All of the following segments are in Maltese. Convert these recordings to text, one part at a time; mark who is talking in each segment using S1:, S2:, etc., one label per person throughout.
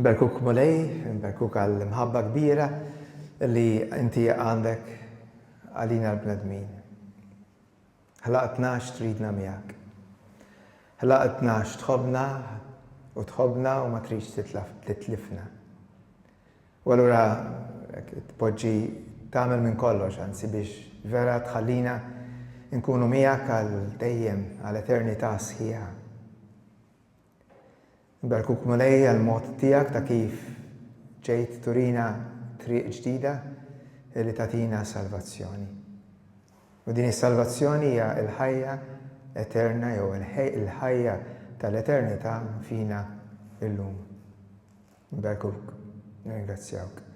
S1: Nberkuk Mulej, nberkuk għall-imħabba kbira li inti għandek għalina l-bnedmin. Ħlaqtna għax tridna miegħek. Ħlaqtna għax tħobbna u tħobbna u ma tridx titlifna. U allura tpoġġi tagħmel minn kollox anzi biex vera tħallina nkunu miegħek għal dejjem għal eternità sħiħa. Nbarkuk Mulej għal mod tiegħek ta' kif ġejt turina triq ġdida li tagħtina salvazzjoni. U din is-salvazzjoni hija l-ħajja eterna jew il-ħajja tal-eternità fina illum. Nbarkuk, nirringrazzjawk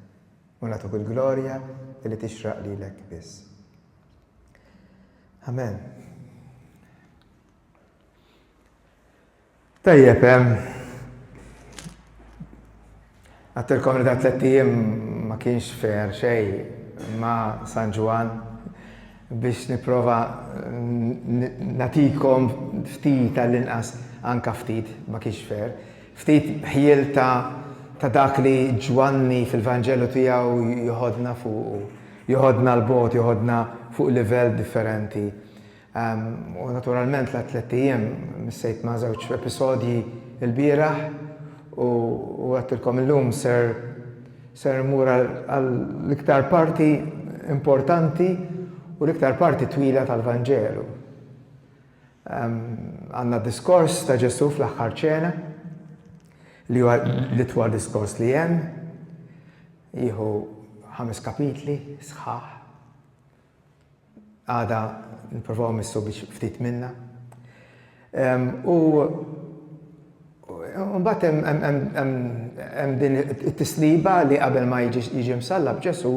S1: u nagħtuk il-glorja li tixraq lilek biss. Amen. Tajjeb, għadt il-komunità tliet ijiem ma kienx fair xejn ma' San Ġwann biex nipprova nagħtikom ftit għall-inqas anke ftit, ma kienx fair, ftit ħjiel ta' dak li Ġwanni fil-Vanġelu tiegħu jħoddna fuqu, jħoddna 'l bogħod, jħoddna fuq livell differenti. U naturalment l-għadd tlett ijiem missejt ma' żewġ episodji l-bieraħ u għedtilkom illum ser ser immur għall-iktar parti importanti u l-iktar parti twila tal-Vanġelu. Għandna d-diskors ta' Ġesù fl-aħħar ċena li huwa l-itwal diskors li hemm, jieħu ħames kapitli sħaħ. Għada nipprovaw missu biex ftit minna. U mbagħad hemm din it-tisliba li qabel ma jiġi msallab Ġesù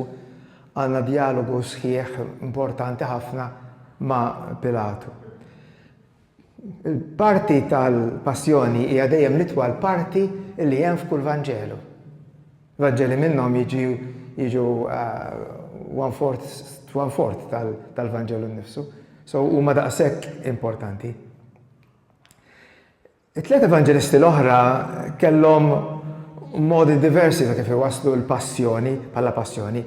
S1: għandna djalogu sħiħ importanti ħafna ma' Pilatu. Il-parti tal-Passjoni hija dejjem l-itwal parti li hemm f'kull Vanġelu. Vanġeli minnhom jiġu one-fourth tal-Vanġelu nnifsu, so huma daqshekk importanti. It-tliet Evanġelisti l-oħra kellhom modi diversi ta' kif iwasslu l-Passjoni bħala Passjoni.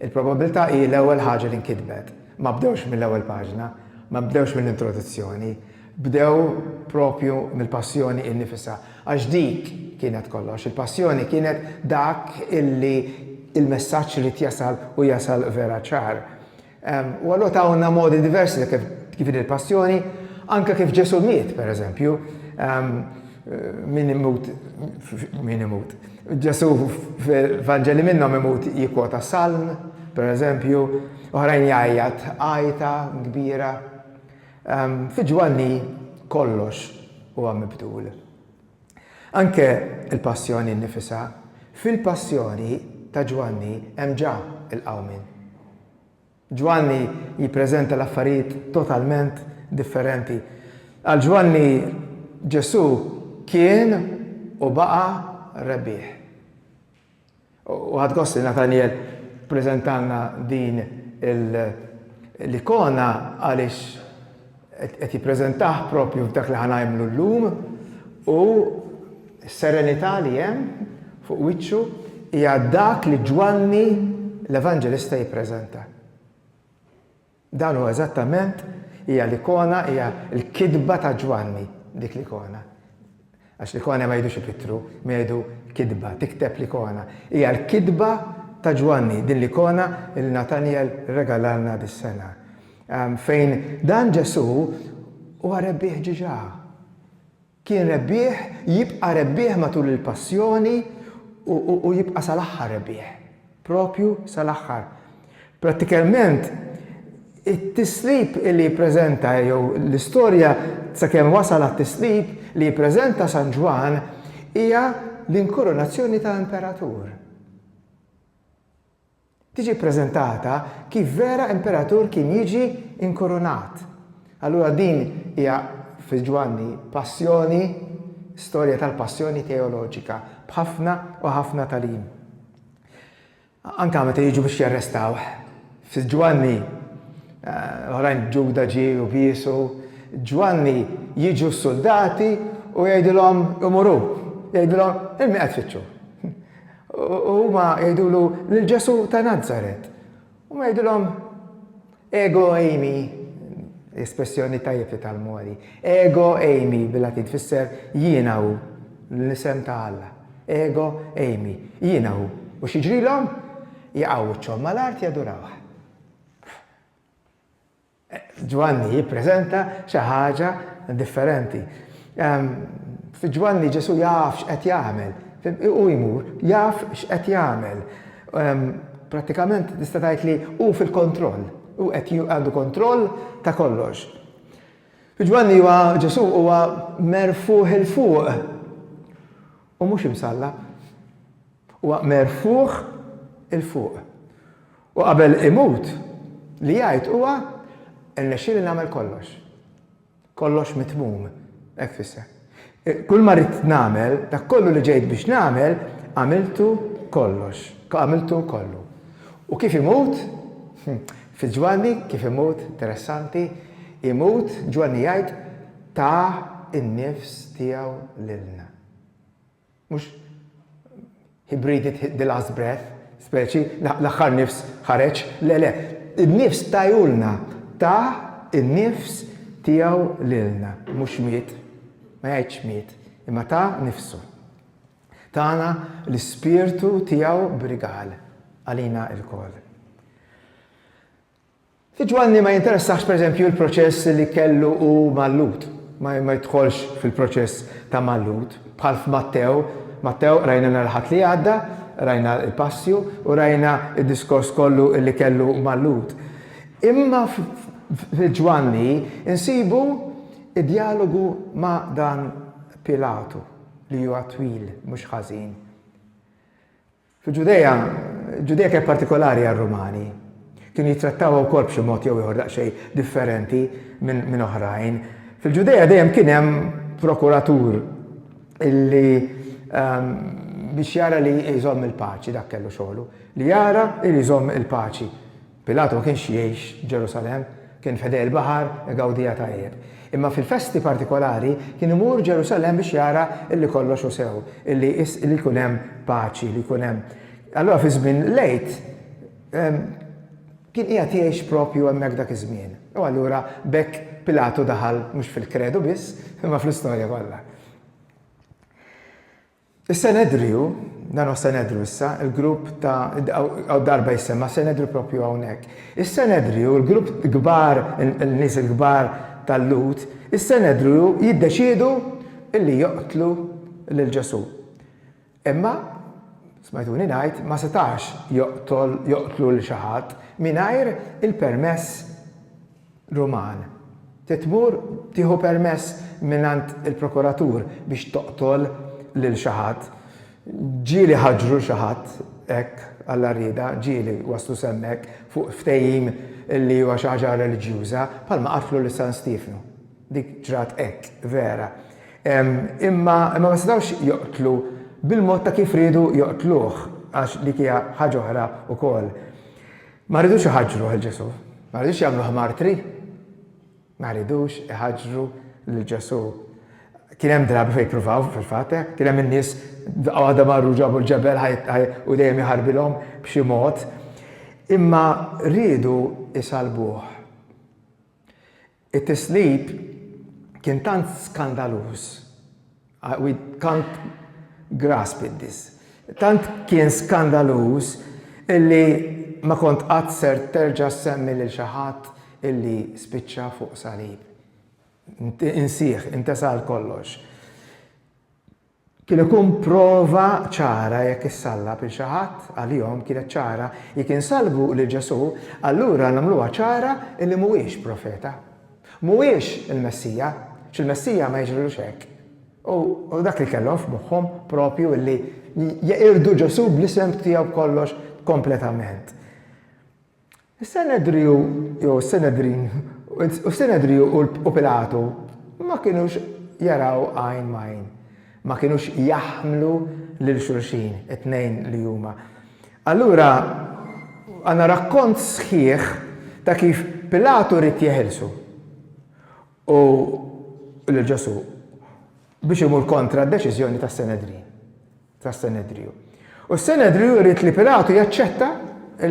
S1: Il-probabbiltà hi l-ewwel ħaġa li nkitbet. Ma bdewx mill-ewwel paġna, ma bdewx mill-introduzzjoni, bdew proprju mill-Passjoni innifisha, għax dik kienet kollox, il-Passjoni kienet dak li l-messaġġ ried jasal u jasal vera ċar. U allura tawna modi diversi ta' kif din il-Passjoni, anke kif Ġesù miet, pereżempju, min imut, min imut, Ġesù fil-Vanġeli minnhom imut jikkwota Salm, pereżempju, Oħrajn jgħajjat għajta kbira. Fi Ġwanni kollox huwa mibdul. Anke l-Passjoni nnifisha. Fil-Passjoni ta' Ġwanni hemm ġa l-qawmien. Ġwanni jippreżenta l-affarijiet totalment differenti. Għal Ġwanni Ġesù kien u baqa' rebbieħ. U ħadt gost li Nathaniel ppreżentalna din l-ikona għaliex qed jippreżentah proprju f'dak li ħa ngħimlu llum u s-serenità li hemm fuq wiċċu hija dak li Ġwanni l-Evanġelista jippreżenta. Dan hu eżattament, hija l-ikona, hija l-kitba ta' Ġwanni, dik l-ikona. Għax l-ikona ma jgħidux ipittru, imma jgħidu kitba, tikteb l-ikona. Hija l-kitba ta' Ġwanni, din l-ikona li Natanjel rregalalna dis-sena, fejn dan Ġesù huwa rebbieħ ġiġa. Kien rebbieħ, jibqa' rebbieħ matul il-Passjoni u jibqa' sal-aħħar rebbieħ. Proprju sal-aħħar. Prattikalment, it-tislib li jippreżenta jew l-istorja sakemm wasal għat-tislib li jippreżenta San Ġwann hija l-inkurunazzjoni ta' imperatur. Tiġi ppreżentata kif vera imperatur kien jiġi inkurunat. Allura din hija, fi Ġwanni, passjoni, storja tal-passjoni teoloġika, b'ħafna u ħafna tagħlim. Anke meta jiġu biex jarrestawh, fi Ġwanni, oħrajn Ġuda ġie u biesu, Ġwanni jiġu s-suldati u jgħidilhom imuru, jgħidilhom, 'Il min qed tfittxu? U huma jgħidulu, Lil Ġesù ta' Nazaret. Huma jgħidulhom, Ego eimi, espressjoni tajjeb li tgħallmu għadi, Ego eimi bil-Latin tfisser jiena hu, l-isem ta' Alla. Ego eimi, jiena hu. U x'jiġrilhom? Jaqgħu wiċċhom mal-art jadurawh. Ġwanni jippreżenta xi ħaġa differenti. Fi Ġwanni Ġesù jaf x'qed jagħmel. Hu jmur, jaf x'qed jagħmel. Prattikament tista' tgħid li hu fil-kontroll. Hu qed għandu kontroll ta' kollox. Fi Ġwanni huwa Ġesù huwa merfugħ 'il fuq u mhux imsallab. Huwa merfugħ 'il fuq. U qabel imut, li jgħid huwa, Irnexxieli nagħmel kollox. Kollox mitmum, hekk tfisser. Kulma ridt nagħmel, dak kollu li ġejt biex nagħmel, għamiltu kollox, għamiltu kollu. U kif imut? Fi Ġwanni kif imut, interessanti, imut, Ġwanni jgħid, ta n-nifs tiegħu lilna. Mhux He breathed the last breath, speċi, l-aħħar nifs ħareġ, le, le, in-nifs tajulna, ta n-nifs tiegħu lilna, mhux miet, ma jgħidx miet, imma ta nifsu. Tana l-ispirtu tiegħu b'rigal għalina lkoll. Li Ġwanni ma jinteressahx pereżempju l-proċess li kellu hu mal-Lhud, ma jidħolx fil-proċess ta' mal-Lhud, bħal f'Mattew, Mattew qrajna nhar il-Ħadd li għadda, qrajna l-Passju u rajna d-diskors kollu li kellu mal-Lhud. Imma f'Ġwanni nsibu d-djalogu ma' dan Pilatu li huwa twil mhux ħażin. Fil-Ġudea, Ġudea kienet partikolari għar-Rumani. Kienu jittrattawha wkoll b'xi mod jew ieħor daqsxejn differenti minn oħrajn. Fil-Ġudea dejjem kien hemm prokuratur li biex jara li jżomm il-paċi, dak kellu xogħlu, li jara li jżomm il-paċi. Pilatu ma kienx jgħix Ġerusalemm, kien f'ħdejn il-baħar igawdiha tajjeb. Imma fil-festi partikolari kien imur Ġerusalemm biex jara illi kollox hu sew, illi li jkun hemm paċi, li jkun hemm. Allura fi żmien l-Għid kien qiegħed jgħix proprju hemmhekk dak iż-żmien. U allura b'hekk Pilatu daħal mhux fil-kredu biss, imma fl-istorja kollha. Is-Senedriju, dan huwa s-Senedru issa, il-grupp ta' hawn darba jissemma' Senedru proprju hawnhekk. Is-Senedriju, il-grupp kbar, in-nies il-kbar tal-Lhud, is-Senedriju jiddeċiedu li joqtlu lil Ġesù. Imma, smajtuni ngħid, ma setax joqtol, joqtlu lil xi ħadd mingħajr il-permess Ruman. Trid tmur tieħu permess mingħand il-prokuratur biex toqtol lil xi ħadd. Ġieli ħaġru xi ħadd hekk, Alla riedha, ġieli waslu s'hemmhekk fuq ftehim li huwa xi ħaġa reliġjuża, bħalma qatlu lil San Stiefnu. Dik ġrat hekk, vera. Imma ma setgħux joqtlu bil-mod ta' kif riedu joqtluh, għax dik hija ħaġa oħra wkoll. Ma jridux iħaġġruh 'il Ġesù. Ma jridux jagħmluh martri. Ma jridux iħaġġru lil Ġesù. Kien hemm drabi fejn ippruvaw fil-fatt hekk. Kien hemm in-nies daqqa waħda marru ġabu l-ġebel u dejjem iħarbilhom b'xi mod. Imma riedu jsalbuh. It-tislib kien tant skandaluż, we can't grasp it this, tant kien skandaluż illi ma kont qatt ser terġa' ssemmi lil xi ħadd illi spiċċa fuq salib. Insih, intesa' għal kollox. Kien ikun prova ċara jekk issallab lil xi ħadd, għalihom kienet ċara, jekk insalbu lil Ġesù, allura nagħmluha ċara li mhuwiex profeta. Mhuwiex il-Messija, għax il-Messija ma jiġrilux hekk. U dak li kellhom f'moħħhom proprju li jeqirdu Ġesù bl-isem tiegħu b'kollox kompletament. Is-Senedriju, jew is-Senedrin, u s-Senedriju u Pilatu ma kinux jaraw għajn m'għajn, ma kinux jaħmlu lil xulxin, it-tnejn li huma. Allura għandna rakkont sħiħ ta' kif Pilatu ried jeħilsu u lil Ġesù biex imur kontra d-deċiżjoni tas-Senedrin. tas-Senedriju. U s-Senedriju jrid li Pilatu jaċċetta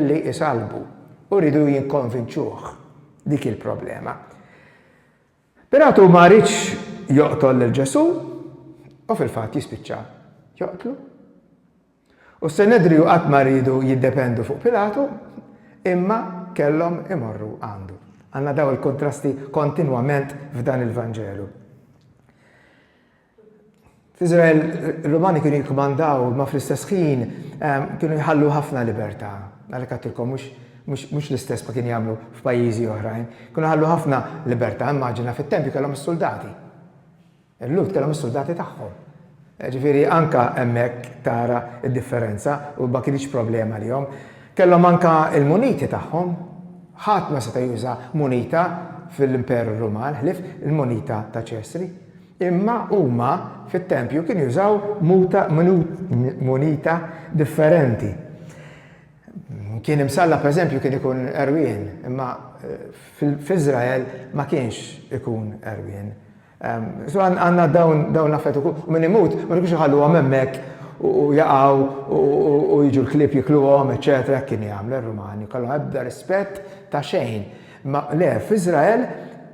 S1: li jsallbu u rridu jinkonvinċuh. Dik hi l-problema. Pilatu ma ridx joqtol lil Ġesù u fil-fatt jispiċċa joqtlu. U s-Senedriju qatt ma rridu jiddependu fuq Pilatu imma kellhom imorru għandu. Għandna daw il-kontrasti kontinwament f'dan il-Vanġelu. F'Iżrael, ir-Rumani kienu jikkmandaw imma fl-istess ħin kienu jħallu ħafna libertà. Għalhekk għattilkom mhux l-istess ma kienu jagħmlu f'pajjiżi oħrajn. Kienu jħallu ħafna libertà, immaġina fit-tempju kellhom is-suldati. Il-Lhud kellhom is-suldati tagħhom. Ġifieri anke hemmhekk tara d-differenza u ma kinitx problema għalihom. Kellhom anke l-muniti tagħhom. Ħadd ma seta' juża munita fil-Imperu Ruman ħlief il-munita ta' Ċesri. Imma huma fit-tempju kienu jużaw muta, munita, differenti. Kien imsallaq pereżempju kien ikun għerwien, imma f'Iżrael ma kienx ikun għerwien. So għandna dawn l-affarijiet ukoll. U min imut ma kienux iħalluhom hemmhekk u jaqgħu u jiġu l-klieb jikluhom, eċċetera, hekk kienu jagħmlu r-Rumani. Kellhom ebda rispett ta' xejn. Imma le, f'Iżrael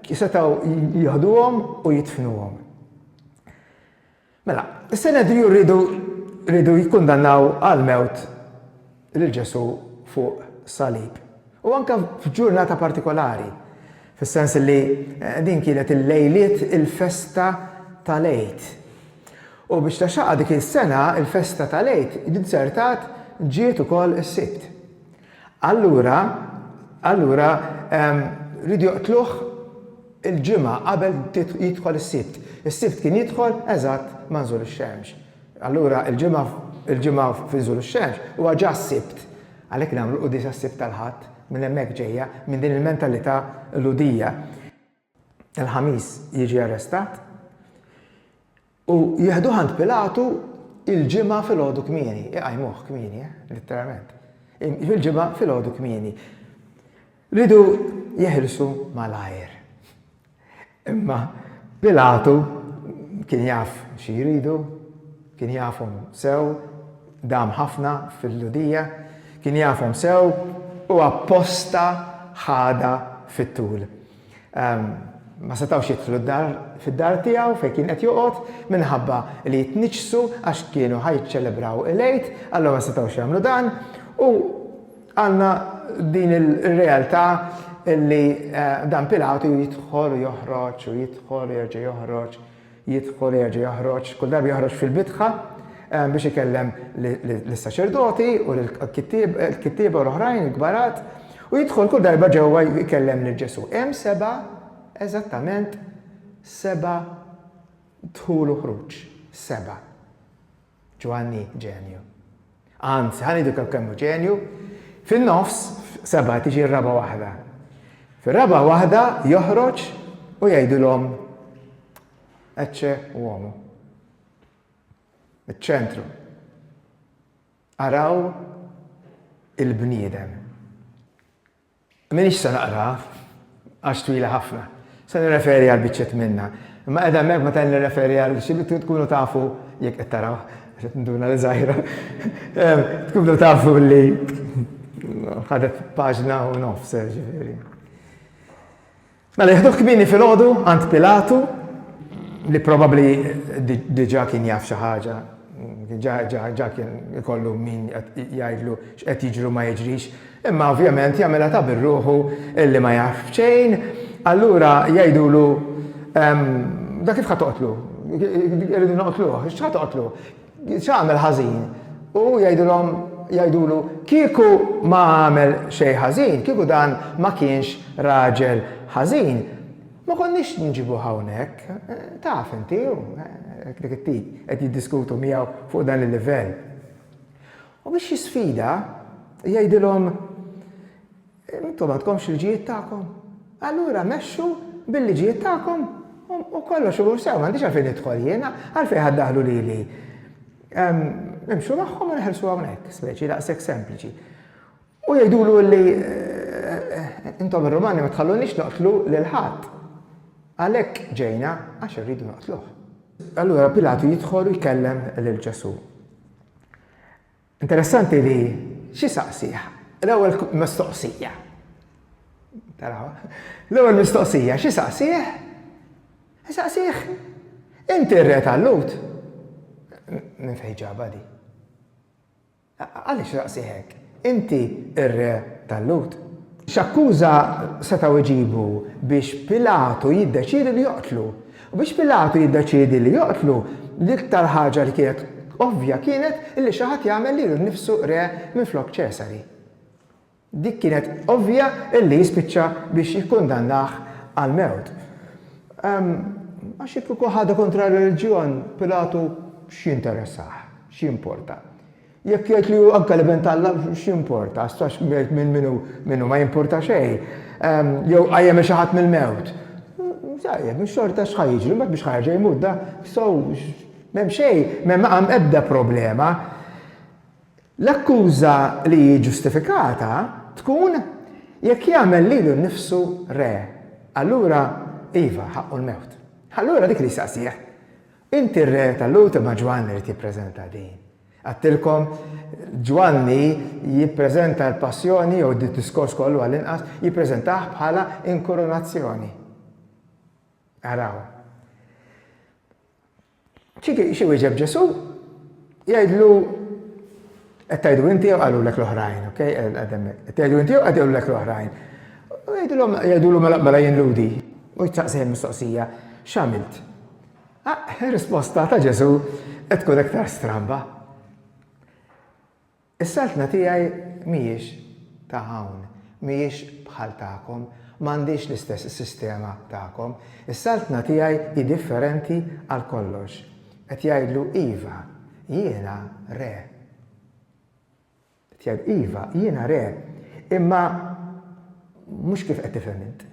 S1: setgħu jieħduhom u jidfnuhom. Mela, is-Senedriju riedu riedu jikkundannaw għall-mewt lil Ġesù fuq salib. U anke f'ġurnata partikolari, fis-sens li din kienet il-lejliet il-festa tal-Għid. U biex ta' xaqqa dik is-sena l-festa tal-Għid, din sertat ġiet ukoll is-Sibt. Allura, allura, ehm, riedu joqtluh il-Ġimgħa qabel jidħol is-Sibt. Is-Sibt kien jidħol eżatt ma' nżul ix-xemx. Allura, il-Ġimgħa, il-Ġimgħa fi nżul ix-xemx huwa ġa s-Sibt. Għalhekk nagħmlu l-Quddiesa s-Sibt tal-Ħadd, minn hemmhekk ġejja, minn din il-mentalità Lhudija. Il-Ħamis jiġi arrestat u jieħduh għand Pilatu il-Ġimgħa filgħodu kmieni, iqajmuh kmieni, eh, litteralment. Il-Ġimgħa filgħodu kmieni. Ridu jeħilsu malajr. Imma Pilatu kien jaf xi jridu, kien jafhom sew, Dam ħafna fil-Lhudija, kien jafhom sew u apposta ħadha fit-tul. Ma setgħux jidħlu fid-dar tiegħu fejn kien qed joqgħod minħabba li jitniġġsu għax kienu ħa jiċċelebraw il-Għid, allura ma setgħux jagħmlu dan u għandna din ir-realtà li dan Pilatu jidħol u joħroġ u jidħol u jerġa' joħroġ. Jidħol jerġa' joħroġ, kull darba joħroġ fil-bitħa biex ikellem lis-saċerdoti u l-kittieba u l-oħrajn, il-kbarat, u jidħol kull darba ġewwa jkellem lil Ġesù. Hemm seba' eżattament seba' dħul u ħruġ. Seba'. Ġwanni ġenju. Anzi, ħa ngħidilkom kemm hu ġenju, fin-nofs, f'seba' tiġi r-raba' waħda. Fir-raba' waħda joħroġ u jgħidilhom Ecce uomo. Iċ-ċentru. Araw il-bniedem. M'iniex se naqraha għax twila ħafna. Se nirreferi għal biċċiet minnha. Imma qiegħda hemmhekk meta nirreferi għal xi bidu tkunu tafu, jekk qed tarawh, għax qed ninduna li żgħira, tkunu tafu li ħadet paġna u nofs, jiġifieri. Mela jieħduh kmieni filgħodu għand Pilatu, li probabbli diġà kien jaf xi ħaġa, ġa kien ikollu min jgħidlu x'qed jiġru ma jiġrix, imma ovvjament jagħmilha ta' birruħu illi ma jaf xejn, allura jgħidulu, Dak kif ħa toqtlu? Irridu noqtluh, x'ħa toqtlu? X'għamel ħażin? U jgħidilhom, jgħidulu, Kieku ma għamel xejn ħażin, kieku dan ma kienx raġel ħażin, ma konniex nġibuh hawnhekk. Taf inti, hu dik it-tip qed jiddiskutu miegħu fuq dan il-livell. U biex jisfida, jgħidilhom, Intom m'għandkomx il-ġijiet tagħkom? Allura mexxu bil-liġijiet tagħkom u kollox imur sew, m'għandix għalfejn nidħol jien, għalfejn ħa ddaħħlu lili. Nimxu magħhom u neħelsu hawnhekk, speċi daqshekk sempliċi. U jgħidulu li intom ir-Rumani ma tħallunix noqtlu lil ħadd. Għalhekk ġejna għax irridu noqtluh. Allura Pilatu jidħol u jkellem lil Ġesù. Interessanti li xi saqsih? L-ewwel mistoqsija. Taraw? L-ewwel mistoqsija xi saqsih? Saqsih inti r-re tal-Lut? Minn fejn ġabha di? Għaliex saqsih hekk? Inti r-re tal-Lut? X'akkuża setgħu jġibu biex Pilatu jiddeċiedi li joqtlu? U biex Pilatu jiddeċiedi li joqtlu, l-iktar ħaġa li kienet ovvja kienet li xi ħadd jagħmel lilu nnifsu re minflok Ċesari. Dik kienet ovvja li jispiċċa biex jikkundannah għall-mewt. Ehm, għax jekk ikun ħadha kontra r-reliġjon, Pilatu x'jinteressah, x'jimporta? Jekk jgħid li hu anke l-Ibn t'Alla, x'jimporta? Għax jgħid minnu ma jimpurta xejn. Jew qajjem lil xi ħadd mill-mewt. Tajjeb, mhux xorta x'ħa jiġri, mbagħad mhux ħa jerġa' jmut da, so m'hemm xejn, m'hemm ebda problema. L-akkuża li hi ġustifikata tkun jekk jagħmel lilu nnifsu re. Allura, iva, ħaqqu l-mewt. Allura dik li jistaqsih, Inti r-re tal-Lhud imma Ġwann irid jippreżenta din. Għedtilkom, Ġwanni jippreżenta l-Passjoni, jew d-diskors kollu għall-inqas, jippreżentah bħala inkoronazzjoni. Araw. X'iwieġeb Ġesù? Jgħidlu, Qed tgħidu inti jew qalulek l-oħrajn, ok? Qed tgħidu inti jew qed jgħidulek l-oħrajn? Jgħidulu mela mela jien lhudi. U jistaqsih il-mistoqsija, X'għamilt? Ir-risposta ta' Ġesù qed tkun iktar stramba. Is-saltna tiegħi mhijiex ta' hawn, mhijiex bħal tagħkom, m'għandhiex l-istess sistema tagħkom. Is-saltna tiegħi hi differenti għal kollox. Qed jgħidlu, Iva, jiena re. Tgħid, Iva, jiena re, imma mhux kif qed tifhem int.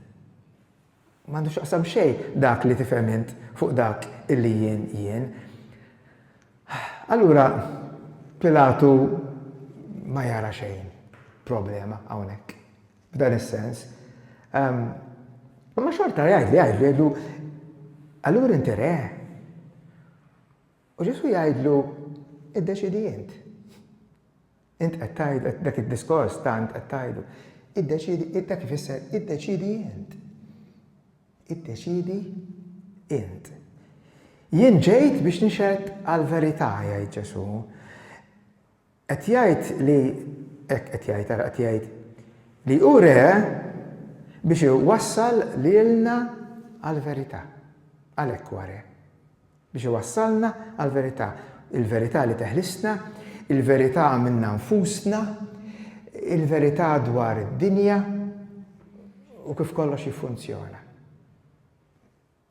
S1: M'għandu x'jaqsam xejn dak li tifhem int fuq dak illi jien jien. Allura Pilatu ma jara xejn problema hawnhekk, f'dan is-sens. Ehm, imma xorta jgħidli, jgħidli, jgħidlu, allura inti re? U Ġesù jgħidlu, Iddeċiedi int. Int qed tgħid, dak id-diskors ta' int qed tgħidu. Iddeċiedi, dak ifisser iddeċiedi int. Iddeċiedi int. Jien ġejt biex nixed għal verità jgħid Ġesù. Qed jgħid li, hekk qed jgħid, ara qed jgħid, li hu re biex iwassal lilna għall-verità. Għalhekk huwa re. Biex iwassalna għall-verità. Il-verità li teħlisna, il-verità minna nfusna, il-verità dwar id-dinja u kif kollox jiffunzjona.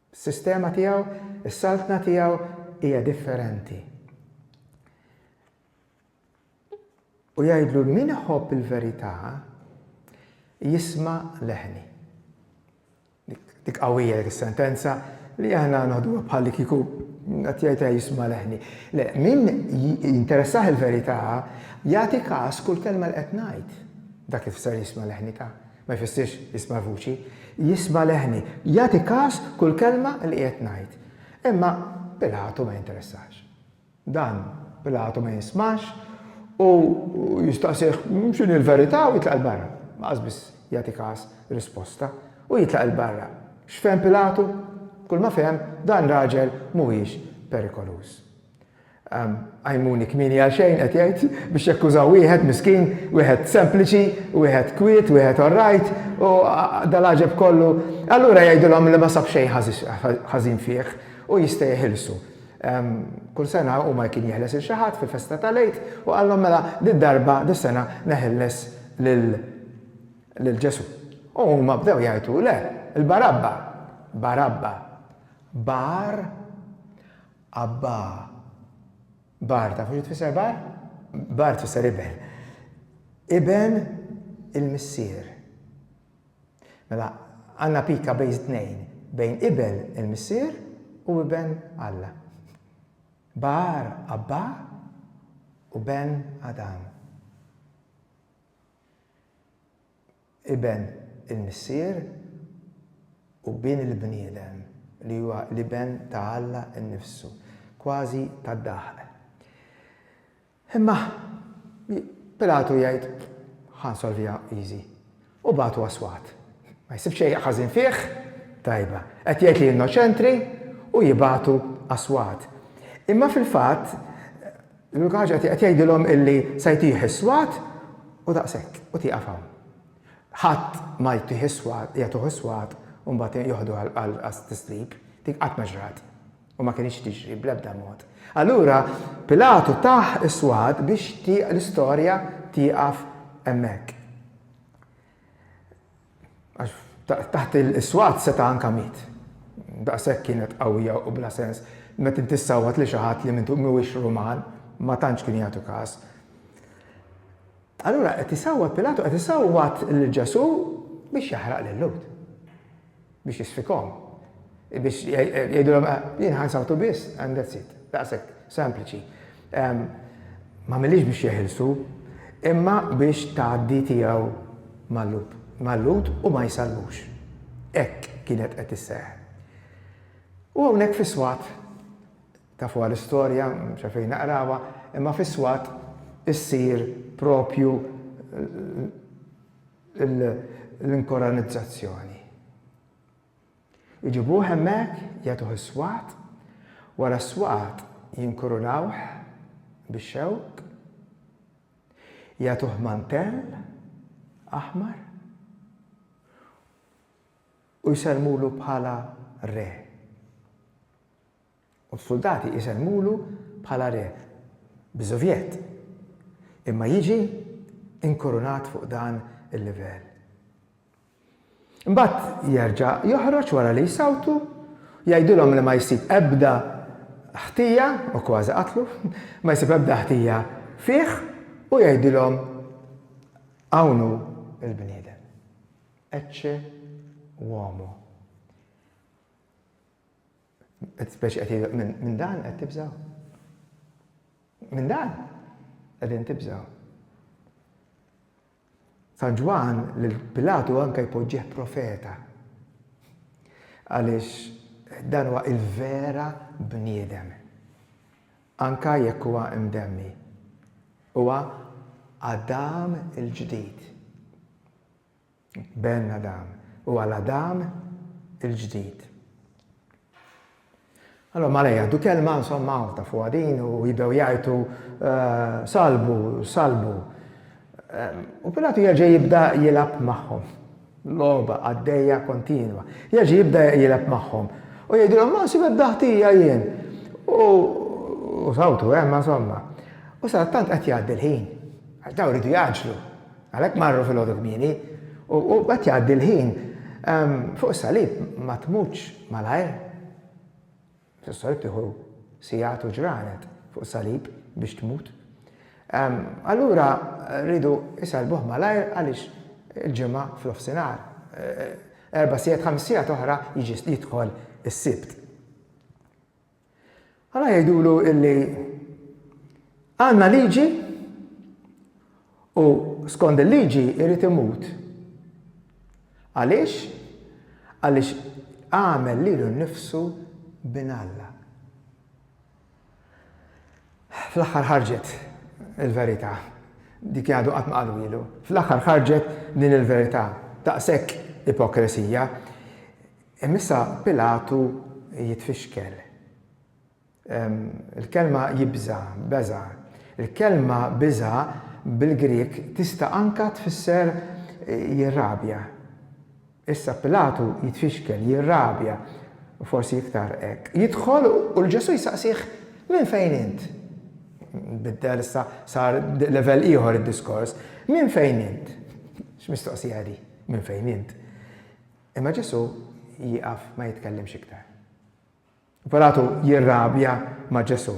S1: Is-sistema tiegħu, is-saltna tiegħu hija differenti. U jgħidlu min iħobb il-verità jisma' leħni. Dik qawwija dik is-sentenza li aħna noħduha bħal li kieku qed jgħidha jisma' leħni. Le, min jinteressah il-verità jagħti każ kull kelma li qed ngħid. Dak li tfisser jisma' leħni ta' Ma jfissirx jisma' l-vuċi. Jisma' leħni. Jagħti kas kull kelma li qiegħed ngħid. Imma Pilatu ma jinteressax. Dan Pilatu ma jismax u jistaqsih x'inhi l-verità u jitlaq 'il barra. Lanqas biss jagħti kas risposta. U jitlaq 'il barra. X'fehem Pilatu? Kull ma fehem, dan raġel mhuwiex perikoluż. Qajmuni kmieni għal xejn, qed jgħid, biex jakkużaw wieħed miskin, wieħed sempliċi, wieħed kwiet, wieħed all right, u dal-għaġeb kollu. Allura jgħidilhom li ma sab xejn ħażin fih u jista' jeħilsu. Kull sena hu ma kien jeħles lil xi ħadd fil-festa tal-Għid u qalhom mela did-darba, dis-sena neħilles lil Ġesù. U huma bdew jgħajtu le, il-Barabba! Barabba! Bar. Abba. Bar, tafu xi tfisser bar? Bar tfisser iben. Iben il-missier. Mela, għandna pika bejn tnejn, bejn iben il-missier u iben Alla. Bar Abba u ben Adam. Iben il-Missier u Bin il-bniedem, li huwa l-Iben ta' Alla nnifsu, kważi tad-daħq. Imma Pilatu jgħid, Ħa nsolviha easy. U bagħtu għas-swat. Ma jsib xejn ħażin fih? Tajba. Qed jgħid li innoċentri u jibagħtu għas-swat. Imma fil-fatt, L-unika ħaġa qed jgħidilhom illi se jtih is-swat u daqshekk, u tieqaf hawn. Ħadd ma jtih is-swat, jagħtuh is-swat u mbagħad joħdu għat-tislib. Dik qatt ma ġrat u ma kinitx tiġri bl-ebda mod. Allura Pilatu tah is-swat biex l-istorja tieqaf hemmhekk. Għax taħt is-swat seta' anka miet. Daqshekk kienet qawwija u bla sens, meta inti ssawwat lil xi ħadd li mhuwiex Ruman, ma tantx kienu jagħtu każ. Allura qed isawwat Pilatu, qed isawwat lil Ġesù biex jaħraq lil Lhud, biex jisfikhom. Biex jgħidulhom, Jien ħa nsawtu biss and that's it. Daqshekk, sempliċi. M'għamilhiex biex jeħilsu, imma biex tgħaddi tiegħu mal-Lhud, mal-Lhud u ma jsallmux. Hekk kienet qed isseħħ. U hawnhekk fis-swat, tafuha l-istorja, mhux għalfejn naqrawha, imma fis-swat issir proprju l-inkoranizzazzjoni. Iġibuh hemmhekk, jagħtuh is-swat, wara s-swat jinkurunawh bix-xewk, jagħtuh mantell aħmar u jsellmulu bħala re. U s-suldati jsellmulu bħala re, b'żuvjett. Imma jiġi inkurunat fuq dan il-livell. Imbagħad jerġa' joħroġ wara li jsawtu, jgħidilhom li ma jsib ebda ħtija, u kważi qatlu, ma jsib ebda ħtija fih u jgħidilhom, Hawn hu l-bniedem. Ecce uomo. Qed speċi qed jgħidilek minn dan qed tibżgħu? Minn dan qegħdin tibżgħu. San Ġwann lil Pilatu anke jpoġġih profeta. Għaliex dan huwa il-vera bniedem. Anka jekk huwa imdemmi. Huwa Adam il-ġdid. Ben Adam, u għal Adam il-ġdid. Allora mala jgħaddu kelma insomma ta' fuq din u jibdew jgħajtu eh, salbu, salbu. Ehm, u Pilatu jerġa' jibda jilab magħhom. Loba għaddejja kontinwa. Jerġa' jibda jilab magħhom. U jgħidilhom ma nsib ebda ħtija jien. U sawtu hemm eh, insomma. U sa tant qed jgħaddi l-ħin. Għax daw ridu jaġlu. Għalhekk marru filgħodu kmieni, u qed jgħaddi l-ħin. Fuq is-salib ma tmutx malajr. Fuq is-salib tieħu sigħat u ġranet fuq is-salib biex tmut. Allura rridu isellbuh malajr għaliex il-Ġimgħa f'nofsinhar, erba' sigħat, ħames sigħat oħra jiġi jidħol is-Sibt. Ara jgħidulu illi għandna liġi u skond il-liġi jrid imut. Għaliex? Għaliex għamel lilu nnifsu bin Alla. Fl-aħħar ħarġet il-verità. Dik għadu qatt ma qalu ilu. Fl-aħħar ħarġet din il-verità. Daqshekk ipokresija. Imissa Pilatu jitfixkel. Il-kelma jibża', beża'. Il-kelma biża' bil-Grieg tista' anke tfisser jirrabja. Issa Pilatu jitfixkel, jirrabja, u forsi iktar hekk. Jidħol u 'l Ġesù jsaqsih, Minn fejn int? Nbiddel issa, sar level ieħor id-diskors. Minn fejn int? X'mistoqsija hi di, minn fejn int? Imma Ġesù jieqaf ma jitkellimx iktar. Pilatu jirrabja ma' Ġesù.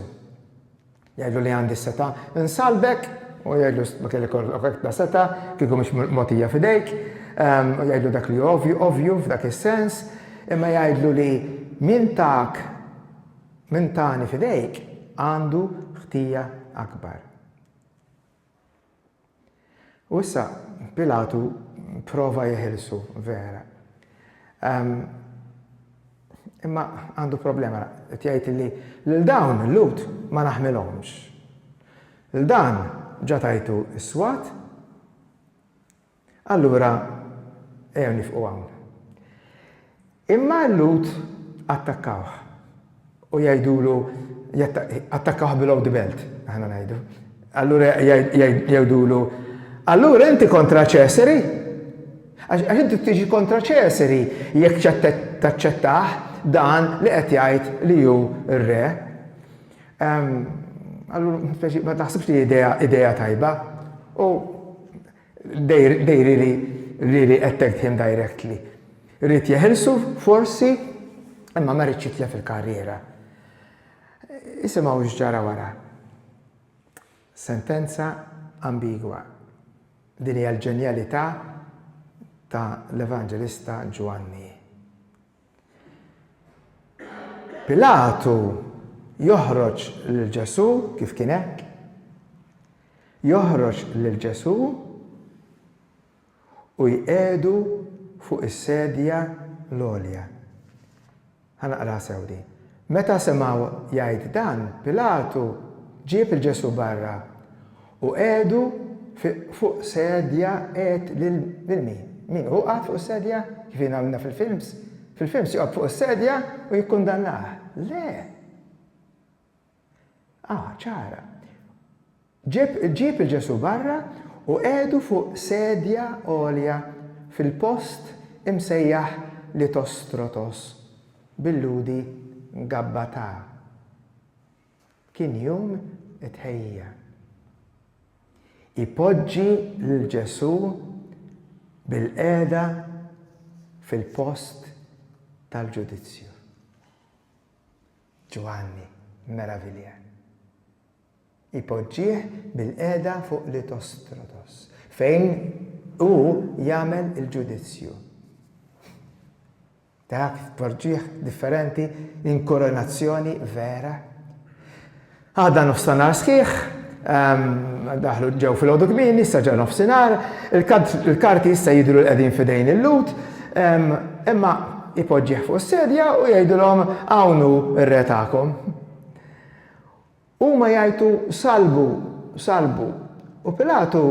S1: Jgħidlu li għandi s-setgħa nsallbek u jgħidlu ma kellek ikollok ta' setgħa kieku mhix mogħtija f'idejk. Ehm, u jgħidlu dak li ovju, ovju f'dak is-sens, imma jgħidlu li min tak min tani f'idejk għandu ħtija akbar. U issa Pilatu pprova jeħilsu, vera. Ehm, imma għandu problema, qed jgħid li lil dawn il-Lhud ma naħmilhomx. Lil dan ġa tajtu s-swat Allura ejjew nifqu hawn. Imma l-Lhud attakkawh u jgħidulu, attakkawh below the belt, aħna ngħidu. Allura jgħidulu, allura inti kontra Ċesari? Għax inti tiġi kontra Ċesari jekk taċċettah dan li qed jgħid li hu r-re. Allura ma taħsibx li hi idea tajba. U They really, really attacked him directly. Ried jeħilsu, forsi, imma ma riedx jitlef il-karriera. Isimgħu x'ġara wara. Sentenza ambigwa. Din hija l-ġenjalità ta' l-Evanġelista Ġwanni. Pilatu joħroġ lil Ġesù kif kien hekk. Joħroġ lil Ġesù u jqegħdu fuq is-sedja l-għolja. Ħanaqra sew di. Meta semgħu jgħid dan, Pilatu ġieb il-Ġesù barra Hu qiegħdu fuq sedja qiegħed lil min? Min hu qagħad fuq is-sedja? Kif jiena għamilna fil-films? Fil-films joqgħod fuq is-sedja u jikkundannah. Le! Aha, ċara. Ġieb ġieb lil Ġesù barra u qiegħdu fuq sedja għolja fil-post imsejjaħ Litostrotos, bil-Lhudi Gabbatà. Kien jum it-tħejjija. Ipoġġi lil Ġesù bilqiegħda fil-post tal-ġudizzju. Ġwanni meravilja. Ipoġġih bilqiegħda fuq li tostrotos fejn hu jagħmel il-ġudizzju. Dak tpoġġih differenti in koronazzjoni vera. Għada nofsanhar sħiħ, daħlu ġew filgħodu kmieni, issa ġa nofsinhar, il-karti issa jidhru li qegħdin f'idejn il-Lhud, imma jpoġġih fuq is-sedja u jgħidilhom hawn hu r-re tagħkom. Huma jgħajtu, Salbu! Salbu! U Pilatu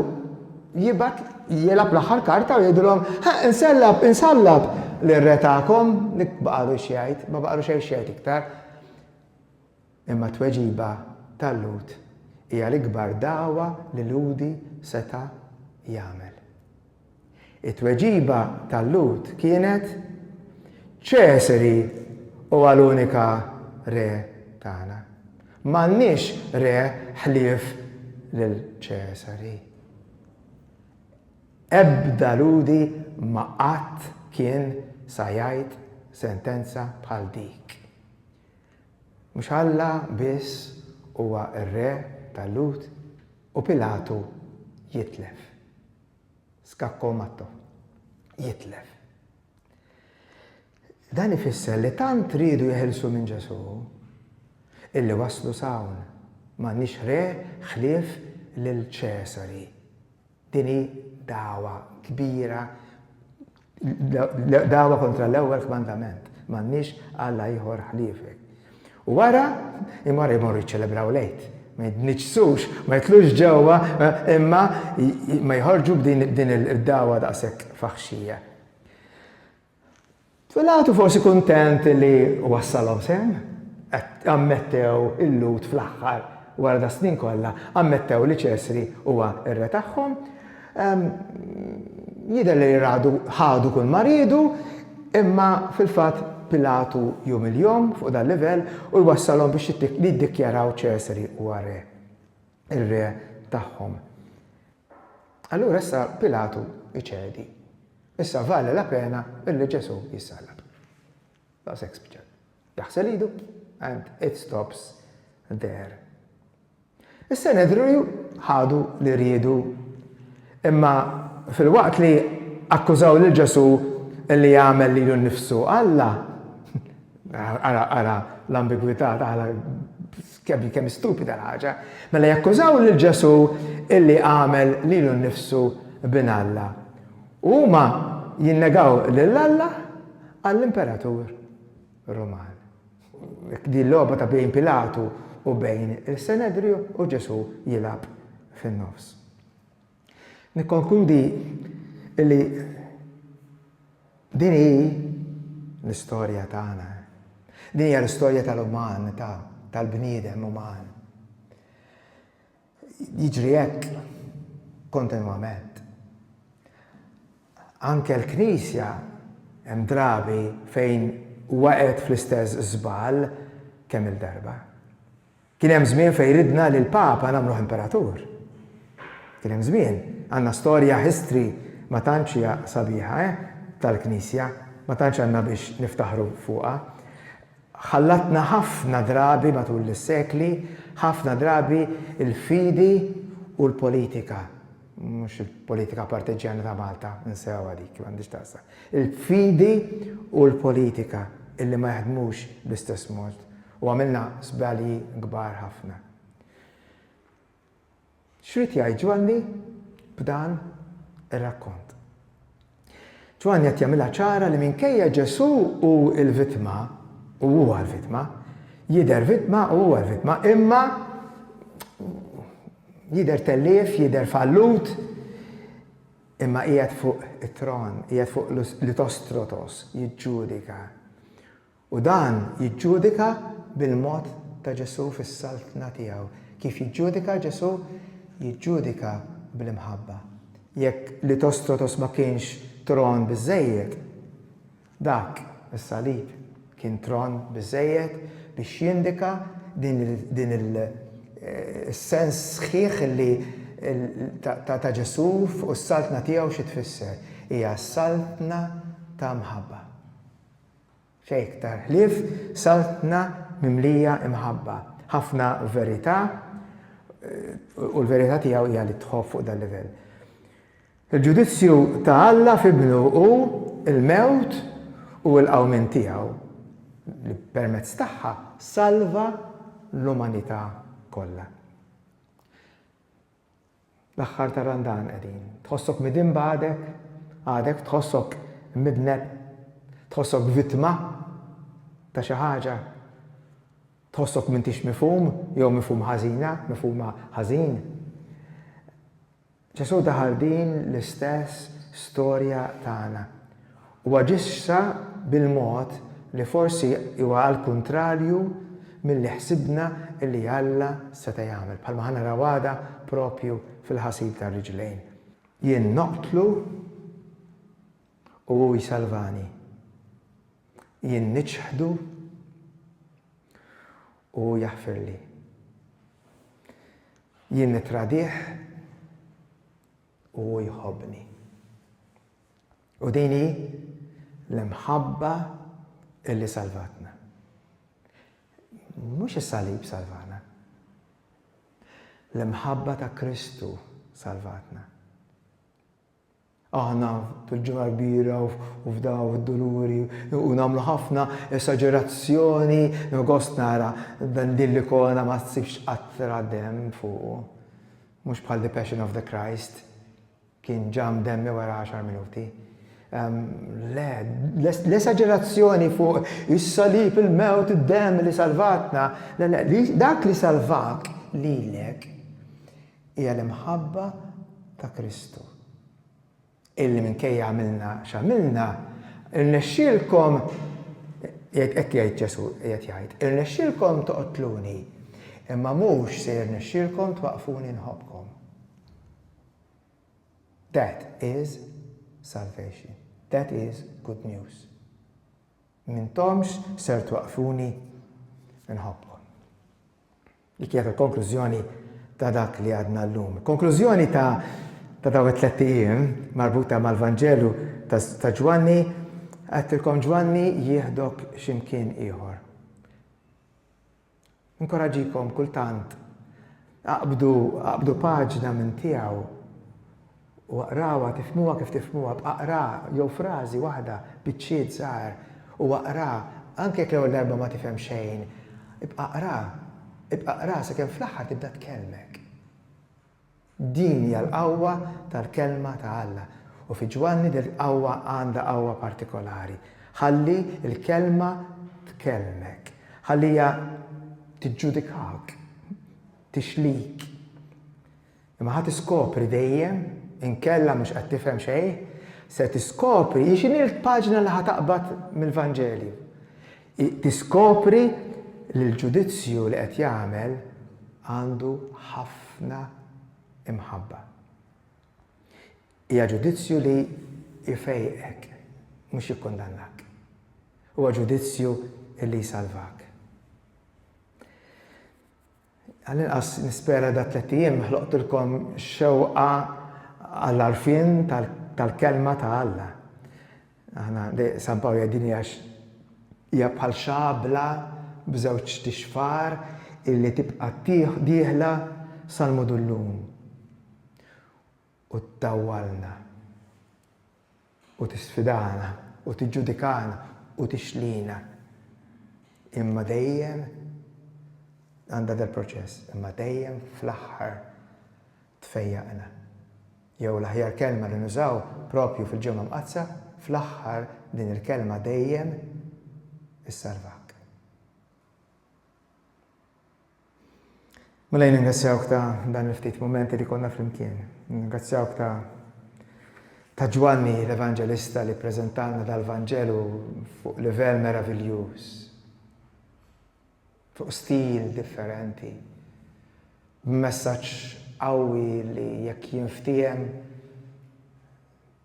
S1: jibgħat jilgħab l-aħħar karta u jgħidilhom, Ħa, insellab, insallab lir-Re tagħkom! Dik baqagħlu x'jgħid, ma baqagħlu xejn x'jgħid iktar. Imma t-tweġiba tal-Lhud hija l-ikbar dagħwa li Lhudi seta' jagħmel. It-tweġiba tal-Lhud kienet, Ċesari huwa l-unika Re tagħna. M'għandniex Re ħlief lil Ċesari. Ebda Lhudi ma qatt kien sa jgħid sentenza bħal dik. Mhux Alla biss huwa r-Re tal-Lhud? U Pilatu jitlef. Scacco Matto, Jitlef. Dan ifisser li tant riedu jeħilsu minn Ġesù illi waslu s'hawn. M'għandniex re ħlief lil Ċesari. Din hi dagħwa kbira Dagħwa kontra l-ewwel kmandament, M'għandniex alla ieħor ħliefek. U wara, imorru jmorru jiċċelebraw l-Għid. Ma jitniġġsux, ma jitlux ġewwa, imma ma jħorġu b'din id-dagħwa daqshekk faħxija. Pilatu forsi kuntent li wassalhom sehem, ammettew il-Lhud fl-aħħar wara da snin kollha, ammettew li Ċesri huwa r-re tagħhom, Jidher li Radu ħadu kull ma riedu, imma fil-fatt Pilatu jumiljhom fuq dal-livell u jwassalhom biex jiddikjaraw Ċesari huwa re, ir-re tagħhom. Allura issa Pilatu jċedi. Issa vale la pena illi Ġesù jissallab. Daqshekk spiċċat. Jaħsel idu and it stops there. Is-Senedriju ħadu li riedu. Imma filwaqt li akkużaw lil Ġesù li għamel lilu nnifsu Alla, ara ara l-ambigwità tagħha kemm kemm stupida l-ħaġa, mela jakkużaw lil Ġesù illi għamel lilu nnifsu bin Alla. U huma jinnegaw lil Alla għall-imperatur Ruman. Din logħba ta' bejn Pilatu u bejn is-Senedriju u Ġesù jilgħab fin-nofs. Nikkonkludi li din hi l-istorja tagħna. Din hija l-istorja tal-uman, tal-bniedem uman. Jiġri hekk kontinwament. Anke l-Knisja hemm drabi fejn waqgħet fl-istess żball kemm-il darba. Kien hemm żmien fejn ridna li l-Papa nagħmluh Imperatur. Kien hemm żmien. Għandna storja, history, ma tantx hija sabiħa, eh, tal-Knisja, ma tantx għandna biex niftaħru fuqha. Ħallatna ħafna drabi matul is-sekli, ħafna drabi l-fidi u l-politika, mhux il-politika partiġġjana ta' Malta, insewha dik, m'għandhiex taqsam, il-fidi u l-politika illi ma jaħdmux bl-istess mod u għamilna żbalji kbar ħafna. X'ried jgħid Ġwanni b'dan ir-rakkont? Ġwanni qed jagħmilha ċara li minkejja Ġesù hu l-vittma, u huwa l-vittma, jidher vittma u huwa l-vittma, imma jidher tellief, jidher fallut, imma qiegħed fuq it-tron, qiegħed fuq l-itos trotos, jiġġudika. U dan jiġġudika bil-mod ta' Ġesù fis-Saltna tiegħu. Kif jiġġudika Ġesù? Jiġġudika bl-imħabba. Jekk Litostotos ma kienx tron biżżejjed, dak, is-salib, kien tron biżżejjed biex jindika din is-sens sħiħ li ta' Ġesù fuq is-Saltna tiegħu xi tfisser. Hija Saltna ta' mħabba. Xejn iktar ħlief Saltna mimlija imħabba, ħafna verità u l-verità tiegħu hija li tħobb fuq dal-livell. Il-ġudizzju ta' Alla f'Ibnu hu l-mewt u l-qawmien tiegħu li permezz tagħha salva l-umanità kollha. L-aħħar ta' Randan qegħdin. Tħossok midinb għadek? Għadek tħossok imidneb? Tħossok vittma ta' xi ħaġa? Tħossok m'intix mifhum jew mifhum ħażina, mifhuma ħażin? Ġesù daħal din l-istess storja tagħna. u aġixxa bil-mod li forsi huwa għall-kuntrarju milli ħsibna li Alla seta' jagħmel, bħalma ħa naraw għada proprju fil-ħasil tar-riġlejn. Jien noqtlu u hu jsalvani. Jien niċħdu u hu jaħfirli. Jien nittradih U hu jħobbni. U din hi l-imħabba illi salvatna. Mhux is-salib salvana. L-imħabba ta' Kristu salvatna. Aħna fil-ġimgħa kbira u f'daw id-duluri u nagħmlu ħafna esagerazzjoni u gost nara dan din l-ikona ma tsibx qatra dem fuq. Mhux bħal The Passion of the Christ, kien ġa mdemmi wara għaxar minuti. Le, l-esaġerazzjoni fuq is-salib, il-mewt, id-demm li salvatna, le, le, dak li salvak lilek hija l-imħabba ta' Kristu. illi minkejja għamilna x'għamilna, irnexxielkom, jgħid hekk jgħid Ġesù, qiegħed jgħid, irnexxielkom toqtluni, imma mhux se jirnexxielkom twaqqfuni nħobbkom. That is salvation. That is good news. Mintomx ser twaqqfuni nħobbkom. Dik hija l-konklużjoni ta' dak li għadna llum. Il-konklużjoni ta' ta' dawn it-tlett ijiem marbuta mal-Vanġelu ta', ta Ġwanni, għedtilkom Ġwanni jieħdok x'imkien ieħor. Inkoraġikom kultant aqbdu, aqbdu paġna minn tiegħu u aqrawha, tifhmuha kif tifhmuha, b'aqra jew frażi waħda, biċċiet żgħar, u aqra, anke jekk l-ewwel darba ma tifhem xejn, ibqa' aqra, ibqa' aqra sakemm fl-aħħar tibda tkellmek. Din hija l-qawwa tal-Kelma ta' Alla, u fi Ġwanni din il-qawwa għandha qawwa partikolari. Ħalli l-Kelma tkellmek. Ħalliha tiġġudikak, tixlik. Imma ħa tiskopri dejjem, inkella mhux qed tifhem xejn, se tiskopri hi x'inhi l-paġna li ħa taqbad mill-Vanġelju. Tiskopri li l-ġudizzju li qed jagħmel għandu ħafna imħabba. Hija ġudizzju li jfejqek, mhux jikkundannak. Huwa ġudizzju li jsalvak. Għall-inqas nispera dat-tlett ijiem ħloqtilkom xewqa għall-għarfien tal-Kelma ta' Alla. Aħna, San Pawl jgħid din hija hija bħal xabla b'żewġ tixfar illi tibqa' dieħla sal-mudullun u ttawwalna. u tisfidana u tiġġudikana u tixlina imma dejjem għandha dal-proċess imma dejjem fl-aħħar tfejjaqna. Jew l-aħjar kelma li nużaw proprju fil-Ġimgħa Mqaddsa fl-aħħar din il-kelma dejjem issalvak. Mulej ningrazzjawk ta dan il ftit mumenti li konna flimkien. Ningrazzjawk ta ta Ġwanni l-Evanġelista li ppreżentalna dal Vanġelu fuq livell meraviljuż. Fuq stil differenti. B'messaġġ qawwi li jekk jinftiehem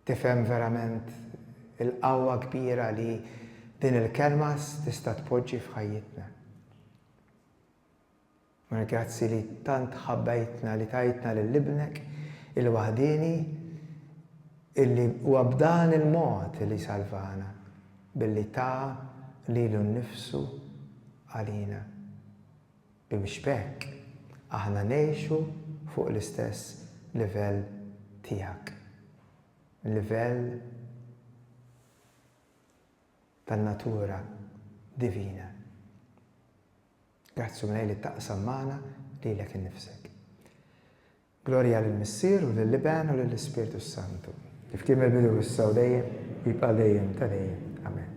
S1: tifhem verament il-qawwa kbira li din il-kelma tista' tpoġġi f'ħajjitna. Mar grazzi li tant ħabbejtna li tajtna lil Ibnek il-waħdieni illi huwa b'dan il-mod li salvana billi ta lilu nnifsu għalina bimx b'hekk aħna ngħixu fuq l-istess livell tiegħek, livell. tan-natura divina. Grazzi u mlej li taqsam magħna lilek innifsek. Glorja lill-Missier u lill-Iben u lill-Ispirtu s-Santu. Kif kien mill-bidu issa u dejjem u jibqa' dejjem ta' dejjem. Amen.